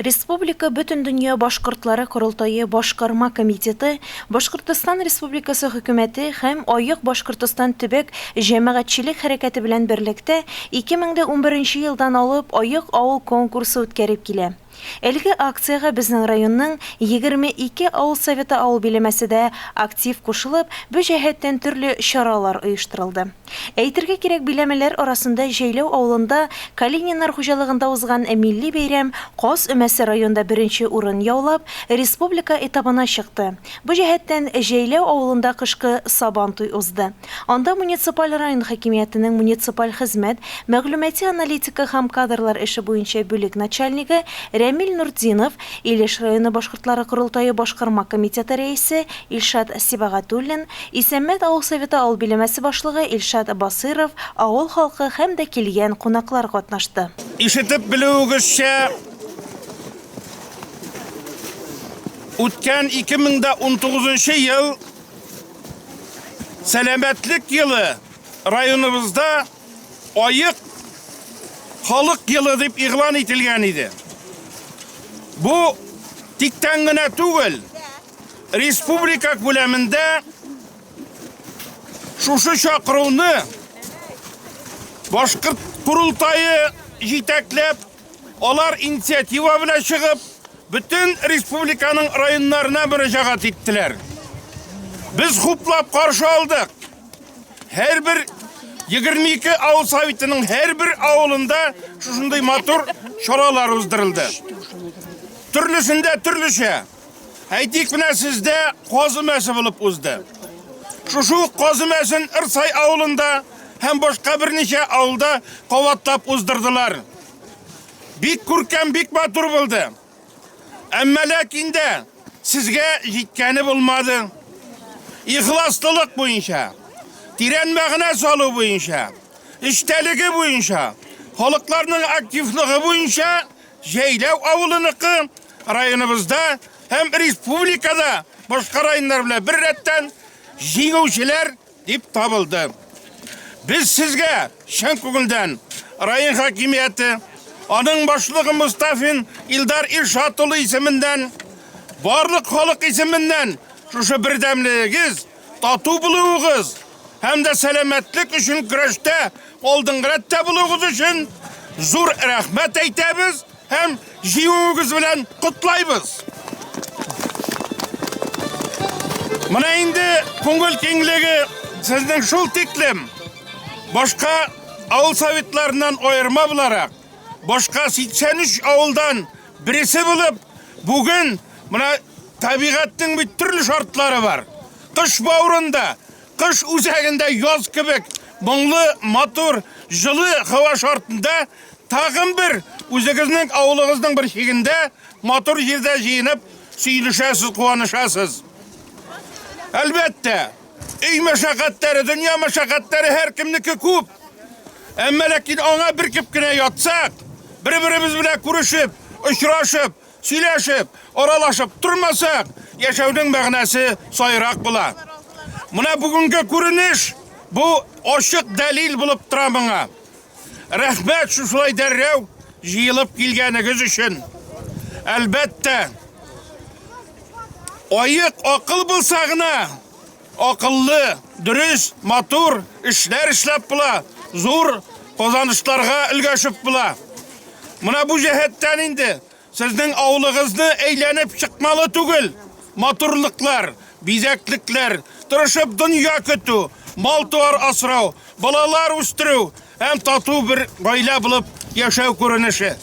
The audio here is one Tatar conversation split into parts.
Республика Бөтендөнья башкортлары корылтае Башкарма комитеты, Башкортостан Республикасы Хөкүмәте һәм Аек Башкортостан төбәк җәмәгатьчелек хәрәкәте белән берлектә 2011 нче елдан алып Аек авыл конкурсы үткәреп килә. Әлеге акциягә безнең районның 22 авыл советы авыл биләмәсе дә актив кушылып, бу җәһәттән төрле чаралар оештырылды. Әйтергә кирәк, биләмәләр арасында Җәйләү авылында Калининнар хуҗалыгында узган милли бәйрәм каз өмәсе районда беренче урын яулап, республика этабына чыкты. Бу җәһәттән Җәйләү авылында кышкы Сабан туй узды. Анда муниципаль район хакимиятенең муниципаль хезмәт, мәгълүмати-аналитика һәм кадрлар эше буенча бүлек начальнигы Рәмил Нуртдинов, Илеш районы башкортлары корылтае башкарма комитеты рәисе Илшат Сибагатуллин, Исәнмәт авыл советы авыл биләмәсе башлыгы Илшат Басыйров, авыл халкы һәм дә килгән кунаклар катнашты. Ишетеп белүегезчә, үткән 2019 нчы ел Сәламәтлек елы районыбызда Аек халык елы дип игълан ителгән иде. Бу тиктән генә түгел, республика күләмендә шушы чакыруны башкорт курултайы җитәкләп Алар инициатива белән чыгып, бөтен республиканың районнарына мөрәҗәгать иттеләр. Без хуплап каршы алдык. Һәрбер 22 авыл советының һәрбер авылында шушындый матур чаралар уздырылды. Төрлесендә төрлечә. Әйтик, менә сездә казы мәҗе булып узды. Шушы ук казы мәҗен Ирсай авылында һәм башка берничә авылда кабатлап уздырдылар. Бик күркәм, бик матур булды. Әмма ләкин дә сезгә җиткәне булмады. Ихласлылык буенча, тирән мәгънә салу буенча, эчтәлеге буенча, халыкларның активлыгы буенча Җәйләү авылыныкы районыбызда һәм республикада башка районнар белән бер рәттән җиңүчеләр дип табылды. Без сезгә чын күңелдән район хакимияте, аның башлыгы Мустафин Илдар Илшат улы исеменнән, барлык халык исеменнән шушы бердәмлегегез Тату булуыгыз һәм дә сәламәтлек өчен көрәштә алдынгы рәттә булуыгыз өчен зур рәхмәт әйтәбез һәм җиңүегез белән котлайбыз. Менә инде күңел киңлеге сезнең шул тиклем. Башка авыл советларыннан аерма буларак, Башка 83 авылдан бересе булып, бүген мына табигатьнең бит төрле шартлары бар. Кыш баурында, кыш үзәгендә яз кебек моңлы, матур, җылы һава шартында тагын бер үзегезнең авылыгызның бер чигендә матур җирдә җыенып сөйлешәсез, куанышасыз. Әлбәттә, Өй мәшәкатьләре, дөнья мәшәкатьләре һәркемнеке күп. Әмма ләкин аңа беркеп кенә ятсак, бер-беребез белән күрешеп, очрашып, сөйләшеп, аралашып тормасак, яшәүнең мәгънәсе сайрак була. Менә бүгенге күренеш бу ачык дәлил булып тора моңа. Рәхмәт шушылай дәррәү җыелып килгәнегез өчен. Әлбәттә, аек акыл булса гына, акыллы, дөрес, матур эшләр эшләп була, зур казанышларга өлгәшеп була. Мына бу җәһәттән инде Сезнең авылыгызны әйләнеп чыкмалы түгел. Матурлыклар, бизәклекләр, тырышып дөнья көтү, мал-туар асрау, балалар үстерү һәм тату бер гаилә булып яшәү күренеше.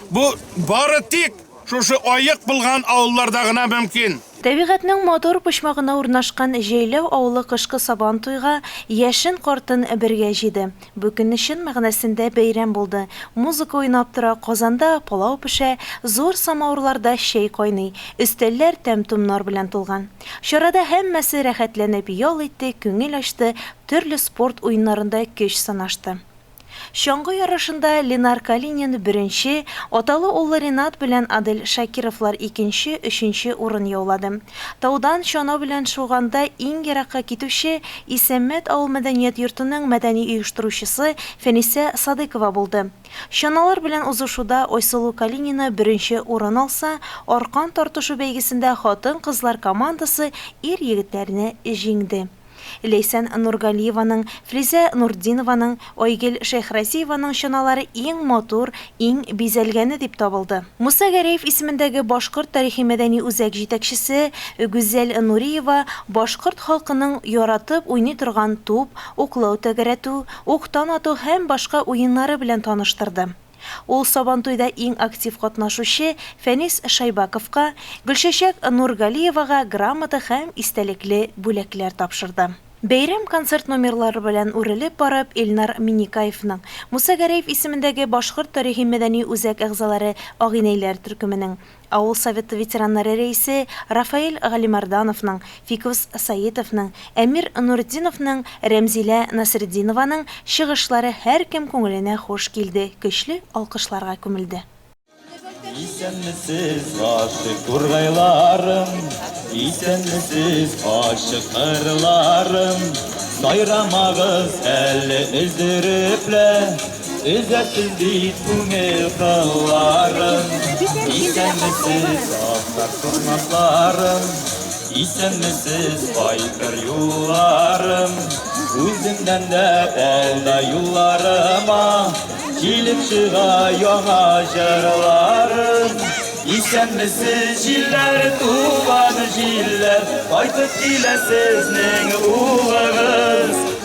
Бу бары тик шушы аек булган авылларда гына мөмкин. Табигатьнең матур почмагына урнашкан Җәйләү авылы кышкы Сабантуйга яшен-картын бергә җыйды. Бу көнне чын мәгънәсендә бәйрәм булды. Музыка уйнап тора, казанда пылау пешә, зур самавырларда чәй кайный, өстәлләр тәм-томнар белән тулган. Чарада һәммәсе рәхәтләнеп ял итте, күңел ачты, төрле спорт уеннарында көч сынашты. Чаңгы ярышында Ленар Калинин, беренче, аталы улы Ренат белән Адель Шакировлар икенче, өченче урын яулады. Таудан чана белән шуганда иң еракка китүче Исәнмәт авыл мәдәният йортының мәдәни оештыручысы Фәнисә Садыкова булды. Чаналар белән узышуда Айсылу Калинина беренче урын алса, аркан тартышу бәйгесендә хатын-кызлар командасы ир-егетләрне җиңде. Ләйсән Нургалиеваның, Флизә Нуртдинованың, Айгөл Шәйхразиеваның чаналары иң матур, иң бизәлгәне дип табылды. Муса Гәрәев исемендәге Башкорт тарихи-мәдәни үзәк җитәкчесе Гүзәл Нуриева башкорт халкының яратып уйный торган туп, уклау-тәгәрәтү, уктан ату һәм башка уеннары белән таныштырды. Ул Сабантуйда иң актив катнашучы Фәнис Шайбаковка, Гөлчәчәк Нургалиевага грамота һәм истәлекле бүләкләр тапшырды. Бәйрәм концерт номерлары белән үрелеп барып, Илнар Миннекаевның, Муса Гәрәев исемендәге Башкорт тарихи-мәдәни үзәк әгъзалары, Агинәйләр төркеменең, Авыл Советы ветераннары рәисе Рафаэль Галимәрдановның, Фикус Сәетовның, Әмир Нуретдиновның, Рәмзилә Насретдинованың чыгышлары һәркем күңеленә хуш килде, көчле алкышларга күмелде. Исәнмесез, гашыйк тургайларым, Исәнмесез, гашыйк кырларым, Сайрамагыз әле өздереп лә. Өзәсез бит күңел кылларын, Исәнмесез, аслар тормасларым, Исәнмесез, кайтыр юлларым. Үземнән дә алда юлларыма, Килеп чыга яңа җырларым. Исәнмесез, җилләр, туган җилләр, Кайтып килә сезнең улыгыз.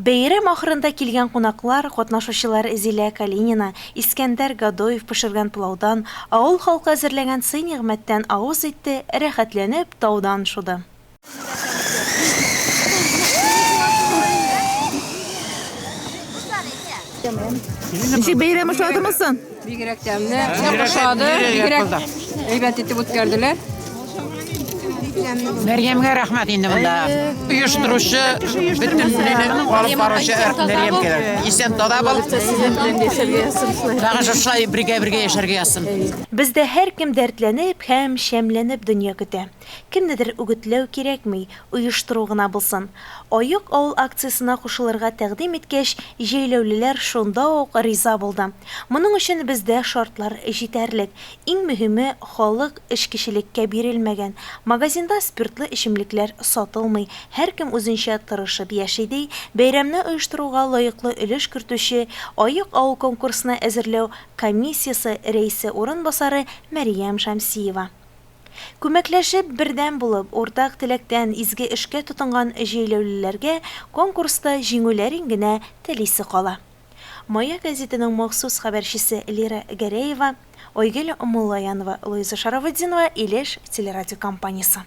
Бәйрәм ахырында килгән кунаклар, катнашучылар Зилә Калинина, Искәндәр Гадоев пешергән пылаудан, авыл халкы әзерләгән сый-нигъмәттән авыз итте, рәхәтләнеп, таудан шуды. Ничек бәйрәм ошадымысын? Бигрәк тәмле, бигрәк ошады, бигрәк әйбәт итеп үткәрделәр. Мәрьямгә рәхмәт инде монда. Оештыручы, бөтен лидерның алып баручы Мәрьям кирәк. Исән тада бул. Тагын шушылай бергә-бергә яшәргә язсын. Бездә һәркем дәртләнеп һәм шәмләнеп дөнья көтә. Кемнедер үгетләү кирәкми, оештыру гына булсын. Аек авыл акциясенә кушылырга тәкъдим иткәч, җәйләүлеләр шунда ук риза булды. Моның өчен бездә шартлар җитәрлек. Иң мөһиме, халык эчкечелеккә бирелмәгән. Магазинда спиртлы эчемлекләр сатылмый, һәркем үзенчә тырышып яши, ди бәйрәмне оештыруга лаеклы өлеш кертүче Аек авыл конкурсны әзерләү комиссиясе рәисе урынбасары Мәрьям Шәмсиева. Күмәкләшеп, бердәм булып, уртак теләктән изге эшкә тотынган җәйләүлеләргә конкурста җиңүләрен генә телисе кала. Мая гәзитенең махсус хәбәрчесе Лира Гәрәева, Айгөл Муллаянова, Луиза Шарафетдинова, Илеш телерадиокомпаниясе.